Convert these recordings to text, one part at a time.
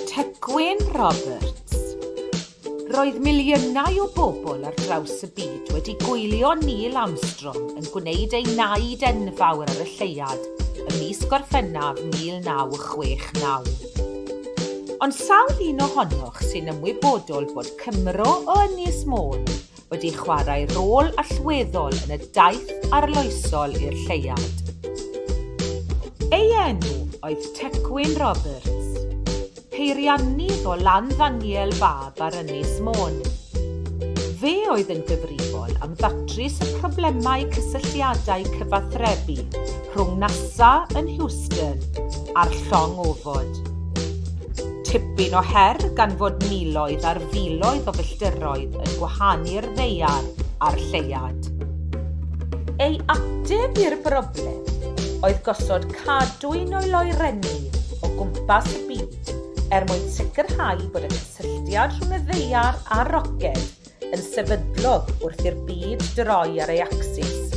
Tegwyn Roberts. Roedd miliynau o bobl ar draws y byd wedi gwylio Neil Armstrong yn gwneud ei naid enfawr ar y lleuad ym mis Gorffennaf 1969. Ond sawl un ohonoch sy'n ymwybodol bod Cymro o Ynys Môn wedi chwarae rôl allweddol yn y daith arloesol i'r lleuad. Ei enw oedd Tecwyn Roberts, peiriannydd o Landdangiel Fab ar Ynys Môn. Fe oedd yn gyfrifol am ddatrys y problemau cysylltiadau cyfathrebu rhwng NASA yn Houston a'r llong ofod. Tipyn o her gan fod miloedd ar filoedd o filltiroedd yn gwahanu'r ddaear a'r lleuad. Ei ateb i'r broblem oedd gosod cadwyn o'i loerenni o gwmpas y byd er mwyn sicrhau bod y cysylltiad rhwng y ddaear a'r roced yn sefydlog wrth i'r byd droi ar ei acsis.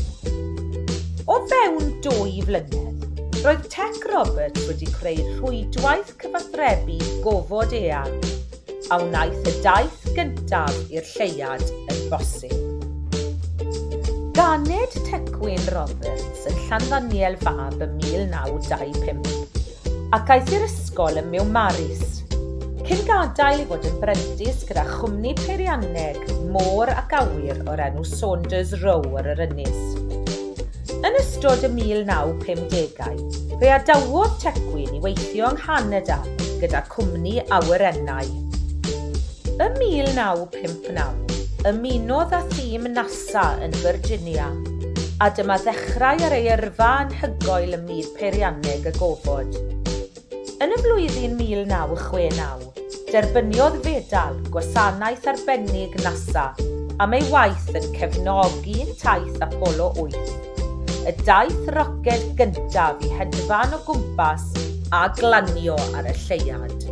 O fewn dwy flynedd, roedd Tech Robert wedi creu rhwydwaith cyfathrebu gofod eang, a wnaeth y daith gyntaf i'r lleiad yn bosib. Ganed Tecwyn Roberts yn Llanddaniel Fab ym 1925. ac aeth i'r ysgol ym Miwmaris, cyn gadael i fod yn brentis gyda chwmni peirianneg môr ac awyr o'r enw Saunders Row ar yr ynys. Yn ystod y 1950au, fe adawodd Tegwyn i weithio yng Nghanada gyda cwmni awyrennau. Ym 1959, ymunodd â thîm NASA yn Virginia, a dyma ddechrau ar ei yrfa anhygoel ym myd peirianneg y gofod. Yn y flwyddyn 1969, derbyniodd fedal Gwasanaeth Arbennig NASA am ei waith yn cefnogi taith Apollo 8, y daith roced gyntaf i hedfan o gwmpas a glanio ar y lleuad.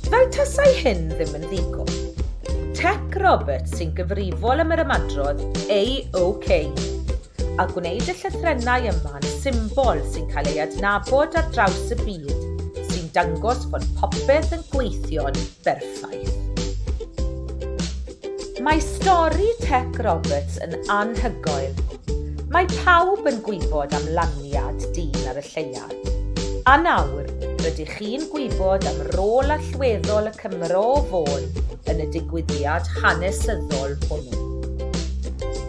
Fel tasai hyn ddim yn ddigon, Tec Roberts sy'n gyfrifol am yr ymadrodd AOK a gwneud y llythrennau yma'n symbol sy'n cael ei adnabod ar draws y byd, sy'n dangos bod popeth yn gweithio'n berffaith. Mae stori Tec Roberts yn anhygoel. Mae pawb yn gwybod am laniad dyn ar y lleiad. A nawr, rydych chi'n gwybod am rôl allweddol y Cymro o Fôn yn y digwyddiad hanesyddol hwnnw.